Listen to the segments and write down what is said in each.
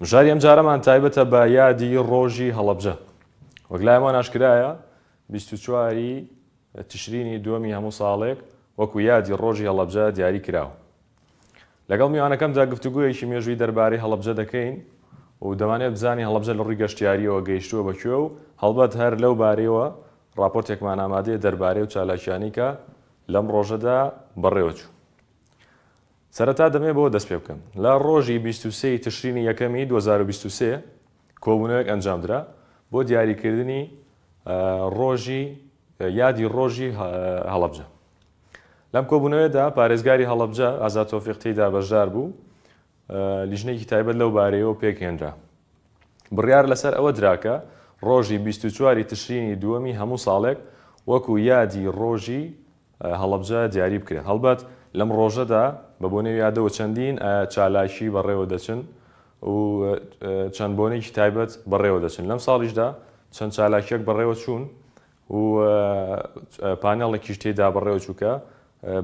مژاری ئەمجارەمان تایبەتە بە یادی ڕۆژی هەڵەبجە. وەک لای هەمووان ئاشکرایە بیست و چوار ی تشرینی دووەمی هەموو ساڵێک وەکو یادی ڕۆژی هەڵەبجە دیاری کراوە. لەگەڵ میوانەکەمدا گفتوگۆیەکی مێژووی دەربارەی هەڵەبجە دەکەین و دەمانەوێت بزانین هەڵەبجە لە ڕووی گەشتیارییەوە گەیشتووە بە کوێ و هەڵبەت هەر لەو بارەیەوە ڕاپۆرتێکمان ئامادەیە دەربارەی و چالاکییانەی کە لەم ڕۆژەدا بەڕێوەچوو. سەرەتا دەمەوێت بەوە دەست پێ بکەم، لە ڕۆژی بیست و سێ ی تشرینی یەکەمی دوو هەزار و بیست و سێ کۆبوونەوەیەک ئەنجامدرا بۆ دیاریکردنی ڕۆژی یادی ڕۆژی هەڵەبجە. لەم کۆبوونەوەیەدا پارێزگاری هەڵەبجە ئازاد تۆفیق تێیدا بەشدار بوو، لیژنەیەکی تایبەت لەو بارەیەوە پێکهێنرا. بڕیار لەسەر ئەوە درا کە ڕۆژی بیست و چوار ی تشرینی دووەمی هەموو ساڵێک وەکو یادی ڕۆژی هەڵەبجە دیاری بکرێن. هەڵبەت لەم ڕۆژەدا بە بۆنەی یادەوە چەندین چالاکی بەڕێوە دەچن و چەند بۆنێکی تایبەت بەڕێوە دەچن. لەم ساڵیشدا چەند چالاکییەک بەڕێوە چوون و پانێڵێکیش تێیدا بەڕێوە چوو کە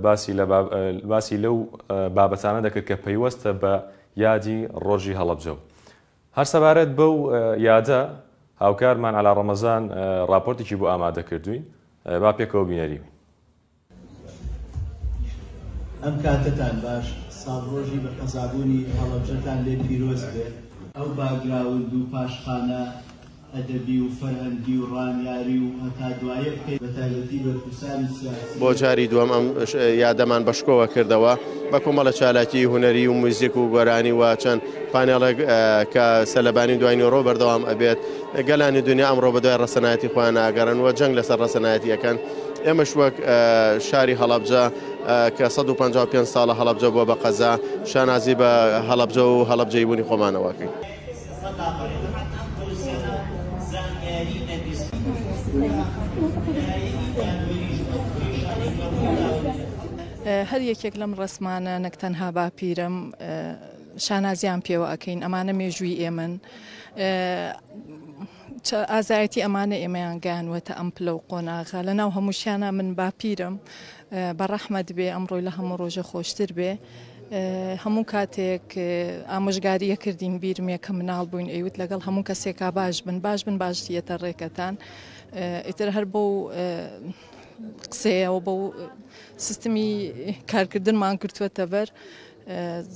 باسی لە باسی لەو بابەتانە دەکرد کە پەیوەستە بە یادی ڕۆژی هەڵەبجە و هەر سەبارەت بەو یادە، هاوکارمان عەلا ڕەمەزان ڕاپۆرتێکی بۆ ئامادە کردووین، با پێکەوە بینەری بین. ئەم کاتەتان باش، ساڵڕۆژی بە قەزابوونی هەڵەبجەتان لێ پیرۆز بێ. ئەو باگراوند و پاشخانە ئەدەبی و فەرهەنگی و ڕامیاری و هەتا دوایە بکەین بە تایبەتی بەرپرسانی سیاسی. بۆ جاری دووەم ئەم یادەمان بە شکۆوە کردەوە بە کۆمەڵە چالاکی هونەری و موزیک و گۆرانی و چەند پانێڵێک کە سەلەبانی دوای نۆرۆ بەردەوام ئەبێت گەلانی دنیا ئەمڕۆ بەدوای ڕەسەنایەتی خۆیان ناگەڕن و جەنگ لەسەر ڕەسەنایەتی ئەەکەن ئێمەش وەک شاری هەڵەبجە کە 155 ساڵە هەڵەبجە بووە بە قەزا شانازی بە هەڵەبجە و هەڵەبجەی بوونی خۆمانەوەکەین. هەر یەکێک لەم ڕەسمانە نەک تەنها باپیرەم شانازیان پێوە ئەکەین ئەمانە مێژووی ئێمەن چ ئازایەتی ئەمانە ئێمەیان گەیانوەتە ئەم پلە و قۆناغە لە ناو هەمووشیانە من باپیرم بە ڕەحمەت بێ ئەم ڕۆی لە هەموو ڕۆژە خۆشتر بێ هەموو کاتێک ئامۆژگاریە کردین بیرمێ کە مناڵ بووین ئەیوت لەگەڵ هەموو کەسێکا باش بن باش بن باشیەتە ڕێکەتان ئیتر هەر بۆ قسەیەوە بە سیستمی کارکردنمان کردوەتە بەر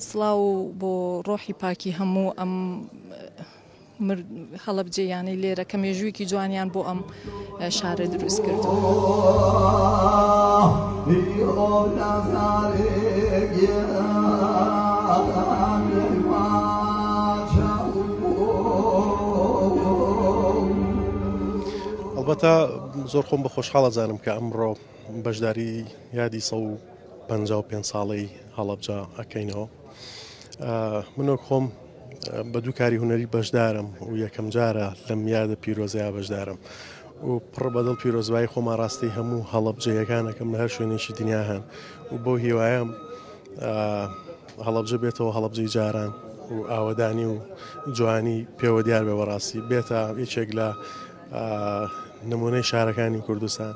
سڵاو بۆ ڕۆحی پاکی هەموو ئەم هەڵەبجەییانەی لێرە کە مێژوویەکی جوانیان بۆ ئەم شارە دروست کردوبەتە زۆر خۆم بە خۆشحاڵە زانم کە ئەمڕۆ بەشداری یادی سە و پ پێ ساڵەی هەڵەبجا ئەەکەینەوە من وەک خۆم بە دوو کاری هونەری بەشدارم و یەکەم جارە لەم یادە پیرۆزەیە بەشدارم و پڕ بەدڵ پیرۆزبایی خۆما ڕاستی هەموو هەڵەبجەیەکانەکەم لە هەر شوێنێکی دنیا هەن و بۆ هیوایم هەڵەبجە بێتەوە هەڵەبجەی جاران و ئاوەدانی و جوانی پێوە دیار بێ بەڕاستی بێتە یەکێک لە نمونەی شارەکانی کوردستان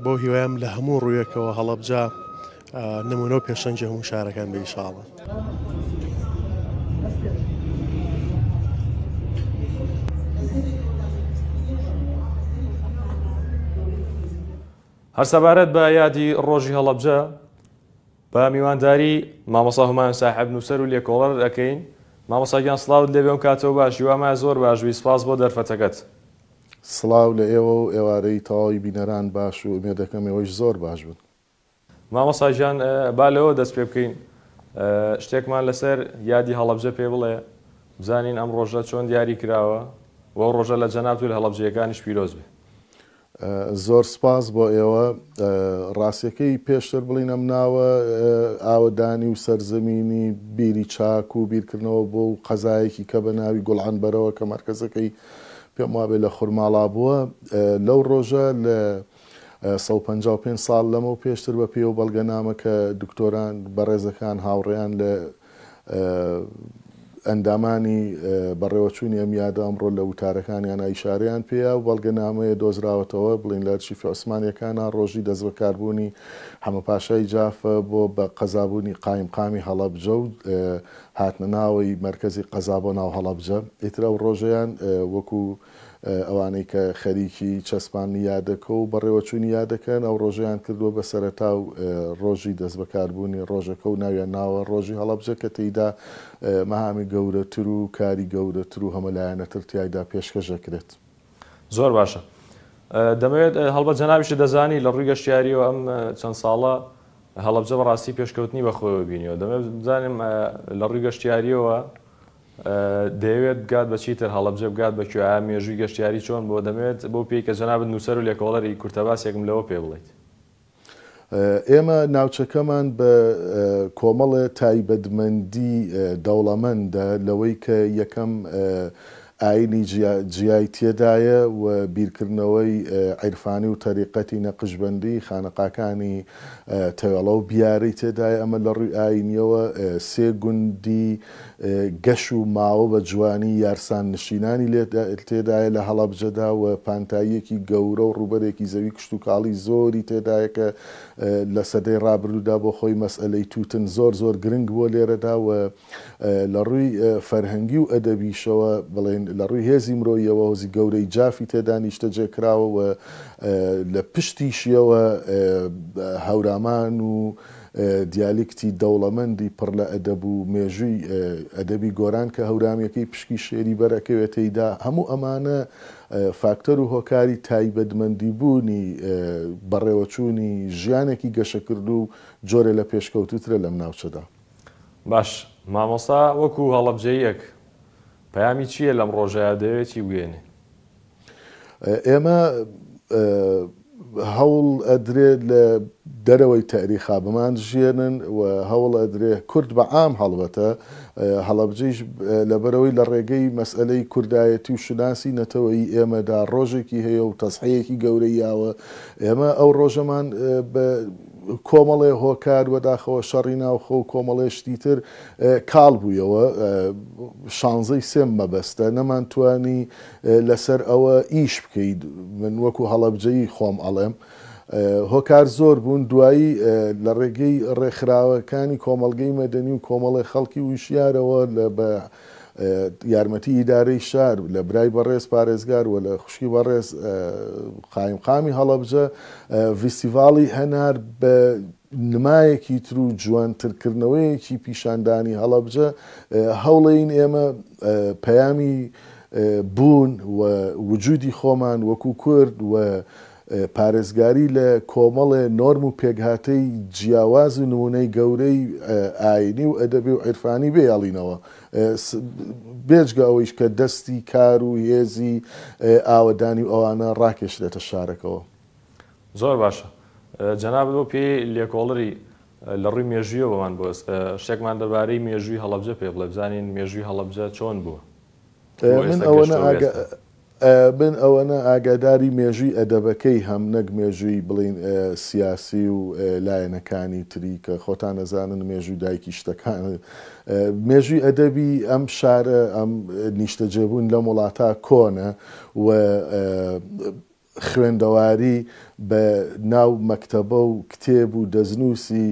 بۆ هیوایم لە هەموو ڕوویەکەوە هەڵەبجە نمونە و پێشەنگی هەموو شارەکان بێ ئیشاڵڵا. هەر سەبارەت بە یادی ڕۆژی هەڵەبجە بە میوانداری مامەسا هەمایان ساحب نووسەر و لێکۆڵەر دەکەین مامەساگیان سلااوت لێ بێم کاتەوە باشی وامە زۆر باشبی سپاس بۆ دەرفەتەکەت. سڵاو لە ئێوە و ئێوارەی تەواوی بینەران باش و ئومێدەکەم ئێوەیش زۆر باش بن. مامۆستا گیان با لەوە دەست پێ بکەین شتێکمان لەسەر یادی هەڵەبجە پێ بڵێ بزانین ئەم ڕۆژە چۆن دیاری کراوە و ئەو ڕۆژە لە جەنابت و لە هەڵەبجەیەکانیش پیرۆز بێ. زۆر سپاس بۆ ئێوە. ڕاستییەکەی پێشتر بڵێین ئەم ناوە ئاوەدانی و سەرزەمینی بیری چاک و بیرکردنەوە بۆ و قەزایەکی کە بە ناوی گوڵعنبەرەوە کە مەرکەزەکەی پێم وابێ لە خورماڵا بووە لەو ڕۆژە لە سەد و پەنجا و پێنج ساڵ لەمەو پێشتر بە پێی ئەو بەڵگەنامە کە دکتۆران بەڕێزەکان هاوڕێیان لە ئەندامانی بەڕێوەچوونی ئەم یادە ئەمڕۆ لە وتارەکانیان ئایشارەیان پێیا و بەڵگەنامەیە دۆزراوەتەوە بڵین لە ئەرشیفی عوسمانیەکانە ڕۆژی دەست بەکاربوونی حەمە پاشای جافە بۆ بە قەزابوونی قایم قامی هەڵەبجە و هاتنە ناوەی مرکزی قەزا بۆ ناو هەڵەبجە ئیترا و ڕۆژەیان وەکو ئەوانەی کە خەریکی چەسپاندنی یادەکە و بەڕێوەچوونی یادەکەن، ئەو ڕۆژەیان کردووە بە سەرەتا و ڕۆژی دەستبەکاربوونی ڕۆژەکە و ناویان ناوە ڕۆژی هەڵەبجە کە تێیدا مەهامی گەورەتر و کاری گەورەتر و هەمەلایەنەتر تیایدا پێشکەش دەکرێت. زۆر باشە. دەمەوێت هەڵبەت جەنابیشت دەزانی لە ڕووی گەشتیارییەوە ئەم چەند ساڵە هەڵەبجە بەڕاستی پێشکەوتنی بەخۆیەوە بینیوە. دەمەوێت بزانم لە ڕووی گەشتیارییەوە دەیەوێت بگات بە چیتر، هەڵەبجە بگات بە کوێ؟ ئایا مێژووی گەشتیاری چۆن بووە؟ دەمەوێت بەو پێی کە جەنابت نووسەر و لێکۆڵەری، کورتەباسێکم لەوە پێ بڵێیت. ئێمە ناوچەکەمان بە کۆمەڵێ تایبەتمەندی دەوڵەمەندە لەوەی کە یەکەم ئایینی جیای تێدایە و بیرکردنەوەی عیرفانی و تەریقەتی نەقشبەندی، خانەقاکانی تەوێڵە و بیارەی تێدایە، ئەمە لە ڕووی ئایینییەوە سێ گوندی گەش و ماوە بە جوانی یارسان نشینانی لێ تێدایە لە هەڵەبجەدا و پانتاییەکی گەورە و ڕووبەرێکی زەوی کشتوکاڵی زۆری تێدایە کە لە سەدەی ڕابردوودا بۆ خۆی مەسئەلەی تووتن زۆر زۆر گرنگ بووە لێرەدا و لە ڕووی فەرهەنگی و ئەدەبیشەوە بڵێن لە ڕووی هێزی مرۆییەوە هۆزی گەورەی جافی تێدا نیشتەجێ کراوە و لە پشتیشیەوە هەورامان و دیالیکتی دەوڵەمەندی پڕ لە ئەدەب و مێژووی ئەدەبی گۆران کە هەورامییەکەی پشکی شێری بەر ئەکەوێ تێیدا، هەموو ئەمانە فاکتەر و هۆکاری تایبەتمەندی بوونی بەڕێوەچوونی ژیانێکی گەشەکردوو و جۆرێ لە پێشکەوتووترە لەم ناوچەدا. باش، مامۆستا وەکوو هەڵەبجەییەک پەیامی چییە لەم ڕۆژەیا دەوێ چی بگەیەنێ؟ ئێمە هەوڵ ئەدرێ لە دەرەوەی تەئریخا بمانژیێنن و هەوڵ ئەدرێ کورد بە عام هەڵبەتە هەڵەبجەیش لەبەرەوەی لە ڕێگەی مەسئلەی کوردایەتی و شوناسی نەتەوەی ئێمەدا ڕۆژێکی هەیە و تەسحەیەکی گەورەیاوە ئێمە ئەو ڕۆژەمان کۆمەڵێ هۆکار وەداخەوە شەڕی ناوخۆ و کۆمەڵێ شتی تر کاڵ بوویەوە شانزەی سێم مەبەستە نەمان توانی لەسەر ئەوە ئیش بکەیت من وەکو هەڵەبجەیی خۆم ئەڵێم هۆکار زۆر بوون دوایی لە ڕێگەی ڕێکخراوەکانی کۆمەڵگەی مەدەنی و کۆمەڵی خەڵکی وشیارەوە لە بە یارمەتی ئیدارەی شار لە برای بەڕێز پارێزگار و لە خوشکی بەڕێز قایمقامی هەڵەبجە ڤیستیڤاڵی هەنار بە نمایەکی تر و جوانترکردنەوەیەکی پیشاندانی هەڵەبجە هەوڵێین ئێمە پەیامی بوون و وجودی خۆمان وەکو کورد و پارێزگاری لە کۆمەڵێ نۆرم و پێکهاتەی جیاواز و نموونەی گەورەی ئایینی و ئەدەبی و عیرفانی بهێڵینەوە، بێجگە ئەوەیش کە دەستی کار و هێزی ئاوەدانی و ئەوانە ڕاکێشرێتە شارەکەوە. زۆر باشە. جەنابت بەو پێیەی لێکۆڵەری لە ڕووی مێژوویەوەمان بۆ ئێستا، شتێکمان دەربارەی مێژووی هەڵەبجە پێ بڵێ، بزانین مێژووی هەڵەبجە چۆن بووە؟ من ئەوەنە ئاگاداری مێژووی ئەدەبەکەی هەم نەک مێژووی بڵێین سیاسی و لایەنەکانی تری کە خۆتان ئەزانن مێژووی دایکی شتەکان مێژووی ئەدەبی ئەم شارە ئەم نیشتەجێبوون لەم وڵاتە کۆنە و خوێندەواری بە ناو مەکتەبە و کتێب و دەستنووسی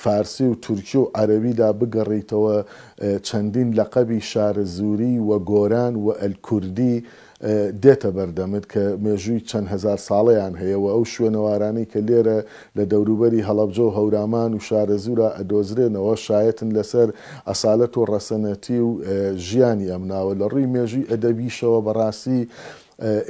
فارسی و تورکی و عەرەبیدا بگەڕیتەوە چەندین لەقەبی شارەزووری و گۆران و ئەلکوردی دێتە بەردەمت کە مێژووی چەند هەزار ساڵەیان هەیە و ئەو شوێنەوارانەی کە لێرە لە دەوروبەری هەڵەبجە و هەورامان و شارەزوورا ئەدۆزرێنەوە شایەتن لەسەر ئەسالەت و ڕەسەنەتی و ژیانی ئەم ناوە لە ڕووی مێژووی ئەدەبیشەوە بەڕاستی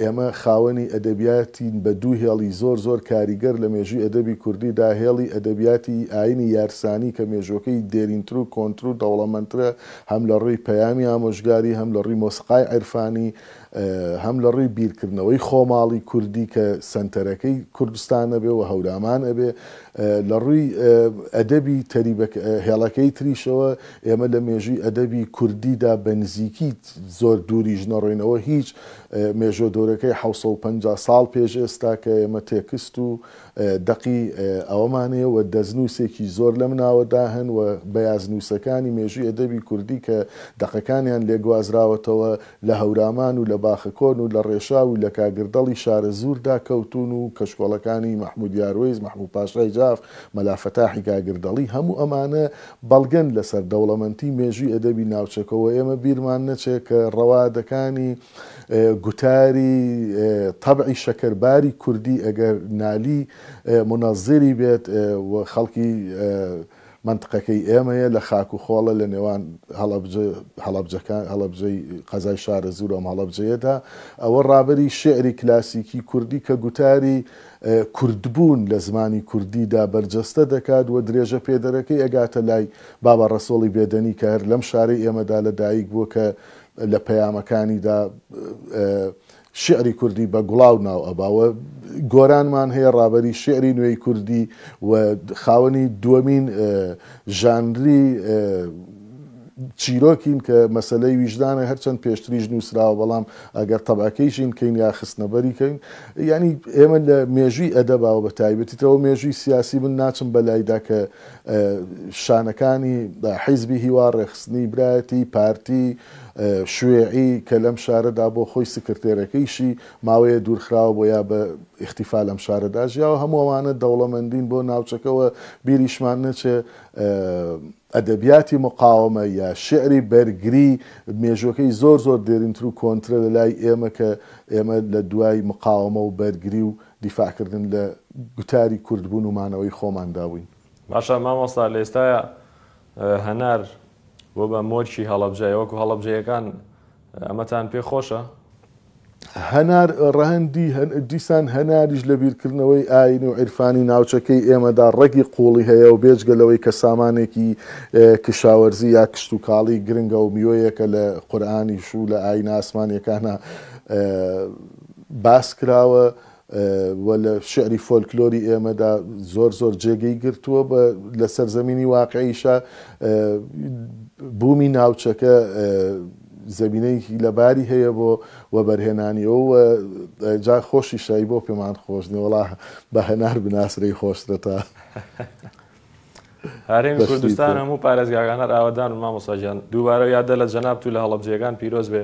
ئێمە خاوەنی ئەدەبیاتین بە دوو هێڵی زۆر زۆر کاریگەر لە مێژووی ئەدەبی کوردی دا، هێڵی ئەدەبیاتی ئایینی یارسانی کە مێژووەکەی دێرینتر و کۆنتر و دەوڵەمەندترە هەم لە ڕووی پەیامی ئامۆژگاری، هەم لە ڕووی مۆسیقای عیرفانی، هەم لە ڕووی بیرکردنەوەی خۆماڵی کوردی کە سەنتەرەکەی کوردستان ئەبێ و هەورامان ئەبێ. لە ڕووی ئەدەبی تەریبەکە هێڵەکەی تریشەوە ئێمە لە مێژووی ئەدەبی کوردی دا بە نزیکی زۆر دووریش نەڕۆینەوە هیچ، مێژووە گەورەکەی حەوت سەد و پەنجا ساڵ پێش ئێستا کە ئێمە تێکست و دەقی ئەوەمان هەیە و دەستنووسێکی زۆر لەم ناوەدا هەن و بەیازنووسەکانی مێژووی ئەدەبی کوردی کە دەقەکانیان لێ گوازراوەتەوە لە هەورامان و لە باخەکۆن و لە ڕێشاو و لە کاگردەڵی شارەزووردا کەوتوون و کەشکۆڵەکانی مەحموود یاروەیس، مەحموود پاشای جاف، مەلا فەتاحی کاگردەڵی هەموو ئەمانە بەڵگەن لەسەر دەوڵەمەندی مێژووی ئەدەبی ناوچەکە و ئێمە بیرمان نەچێ کە ڕەوادەکانی گوتاری تەبعی شەکەرباری کوردی ئەگەر نالی مونەزیری بێت و خەڵکی مەنتقەکەی ئێمەیە لە خاک و خۆڵە لە نێوان هەڵەبجە هەڵەبجەکان هەڵەبجەی قەزای شارەزوور و ئەم هەڵەبجەیەدا ئەوە ڕابەری شعری کلاسیکی کوردی کە گوتاری کوردبوون لە زمانی کوردیدا بەرجەستە دەکات و درێژەپێدەرەکەی ئەگاتە لای بابە ڕەسۆڵی بێدەنی کە هەر لەم شارەی ئێمەدا لە دایک بووە کە لە پەیامەکانیدا شیعری کوردی بە گوڵاو ناو ئەبا و گۆرانمان هەیە ڕابەری شیعری نوێی کوردی و خاوەنی دووەمین ژانری چیرۆکین کە مەسلەی ویژدانە هەرچەند پێشتریش نووسراوە بەڵام ئەگەر تەبعەکەیشین کەین یا خستنەبەریکەین یانی ئێمە لە مێژووی ئەدەبا و بەتایبەتیتەوە مێژووی سیاسی من ناچم بەلایدا کە شانەکانی حیزبی هیوا ڕێخستنی برایەتی پارتی شوێعی کە لەم شارەدا بۆ خۆی سکرتێرەکەیشی ماوەیە دوورخراوە بۆ یا بە ئیختیفا لەم شارەدا ژیاوە هەمووانە دەوڵەمەندین بۆ ناوچەکەەوە بیریشمان نەچێ ئەدەبیاتی مقاوەمە یا شیعری بەرگری مێژووەکەی زۆر زۆر دێرینتر و کۆنترە لە لای ئێمە کە ئێمە لە دوای مقاوەمە و بەرگری و دیفاع کردن لە گوتاری کورد بوون و مانەوەی خۆماندا بووین. باشە مامۆستا لە ئێستایا هەنار بۆ بە مۆرکی هەڵەبجە ئێوە کو هەڵەبجەیەکان ئەمەتان پێ خۆشە؟ هەنار ڕەهەندی دیسان هەناریش لە بیرکردنەوەی ئایینی و عیرفانی ناوچەکەی ئێمەدا ڕەگی قووڵی هەیە و بێجگە لەوەی کە سامانێکی کشاوەرزی یا کشتوکاڵی گرنگە و میوەیەکە لە قورئانیش و لە ئایینە ئاسمانییەکانا باس کراوە، و لە شیعری فۆلکلۆری ئێمەدا زۆر زۆر جێگەی گرتووە و لە سەرزەمینی واقعیشە بوومی ناوچەکە زەمینەیەکی لەباری هەیە بۆ وەبەرهێنانیەوە و جا خۆشی شای بۆ پێمان خۆش نێوەڵا بە هەنار بناسرەی خۆشترە تا هەرێمی کوردستان هەموو پارێزگاگانەر ئاوادان و مامۆساژیان دووبارە یادە لە جەنابت و لە هەڵەبجەکان پیرۆز بێ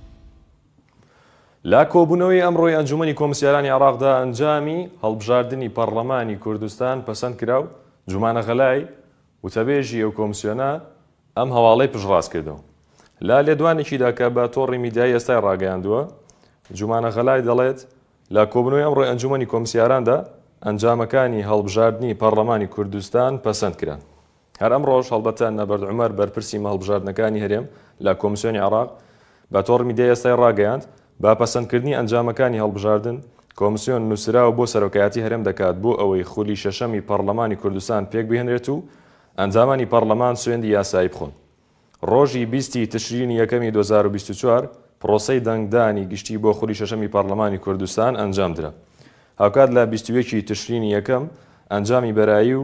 لە کۆبوونەوەی ئەمڕۆی ئەنجوومەنی کۆمسیارانی عێراقدا ئەنجامی هەڵبژاردنی پەڕڵەمانی کوردستان پەسەند کرا و جومانە غەلای، وتەبێژی ئەو کۆمسیۆنە ئەم هەواڵەی پشتڕاست کردەوە. لە لێدوانێکیدا کە بە تۆڕی میدیایی ئێستای ڕاگەیاندووە، جومانە غەلای دەڵێت، لە کۆبوونەوەی ئەمڕۆی ئەنجوومەنی کۆمسیاراندا ئەنجامەکانی هەڵبژاردنی پەڕڵەمانی کوردستان پەسەند کران. هەر ئەمڕۆش هەڵبەتە نەبەرد عومەر بەرپرسی مە هەڵبژاردنەکانی هەرێم لە کۆمسیۆنی عێراق بە تۆڕ میدیای ئێستای ڕاگەیاند، بە پەسەندکردنی ئەنجامەکانی هەڵبژاردن، کۆمسیۆن نووسراو بۆ سەرۆکایەتی هەرێم دەکات بۆ ئەوەی خولی شەشەمی پەڕڵەمانی کوردستان پێکبهێنرێت و ئەندامانی پەڕڵەمان سوێندی یاسایی بخۆن. ڕۆژی بیست ی تشرینی یەکەمی دوو هەزار و بیست و چوار پڕۆسەی دەنگدانی گشتی بۆ خولی شەشەمی پەڕڵەمانی کوردستان ئەنجامدرا. هاوکات لە بیست و یەک ی تشرینی یەکەم ئەنجامی بەرایی و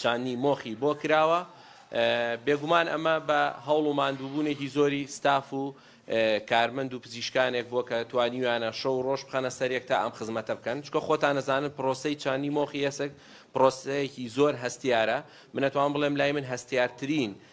چاندنی مۆخی بۆ کراوە، بێگومان ئەمە بە هەوڵ و ماندووبوونێکی زۆری ستاف و کارمەند و پزیشکانێک بووە کە توانیویانە شەو و ڕۆژ بخەنە سەر یەک تا ئەم خزمەتە بکەن، چونکە خۆتان ئەزانن پرۆسەی چاندنی مۆخی ئێسک پرۆسەیەکی زۆر هەستیارە، من ئەتوانم بڵێم لای من هەستیارترین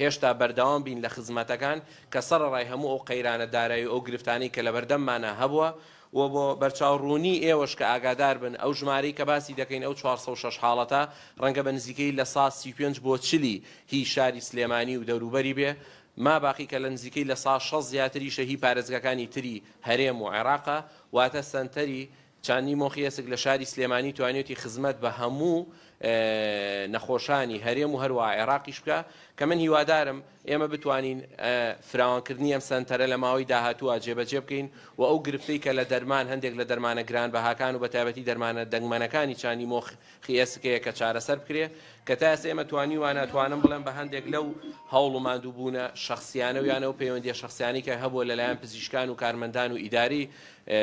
هێشتا بەردەوام بین لە خزمەتەکان کە سەڕەڕای هەموو ئەو قەیرانە دارایی و ئەو گرفتانەی کە لەبەردەممانا هەبووە و بۆ بەرچاو ڕوونی ئێوەش کە ئاگادار بن ئەو ژمارەی کە باسی دەکەین ئەو چوار سەد و شەش حاڵەتە ڕەنگە بە نزیکەیی لە سا سی و پێنج بۆ چلی هی شاری سلێمانی و دەوروبەری بێ ماباقی کە لە نزیکەی لە سا شەست زیاتریشە هی پارێزگاکانی تری هەرێم و عێراقە واتە سەنتەری چاندنی مۆخی ئێسک لە شاری سلێمانی توانیوتی خزمەت بە هەموو نەخۆشانی هەرێم و هەروەها عێراقیش بکا کە من هیوادارم ئێمە بتوانین فراوانکردنی ئەم سەنتەرە لە ماوەی داهاتووە جێبەجێ بکەین و ئەو گرفتەی کە لە دەرمان هەندێک لە دەرمانە گرانبەهاکان و بە تایبەتی دەرمانە دەنگمەنەکانی چاندی مۆخی ئێسکەیە کە چارەسەر بکرێ کە تا ئێستا ئێمە توانیوانە ئەتوانم بڵێم بە هەندێک لەو هەوڵ و ماندووبوونە شەخسیانە و یانە و پەیوەندیە شەخسیانی کە هەبووە لەلایەن پزیشکان و کارمەندان و ئیداری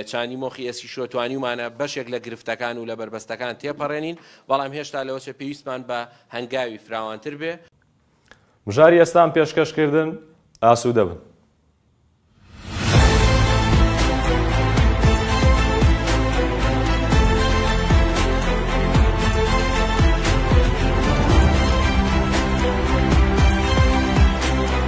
چاندی مۆخی ئێسکی شۆ توانیومانە بەشێک لە گرفتەکان و لە بەربەستەکان تێپەڕێنین، بەڵام هێشتا لەوەچە پێویستمان بە هەنگاوی فراوانتر بێ. مژاری ئێستام پێشکەش کردن، ئاسوودە بن.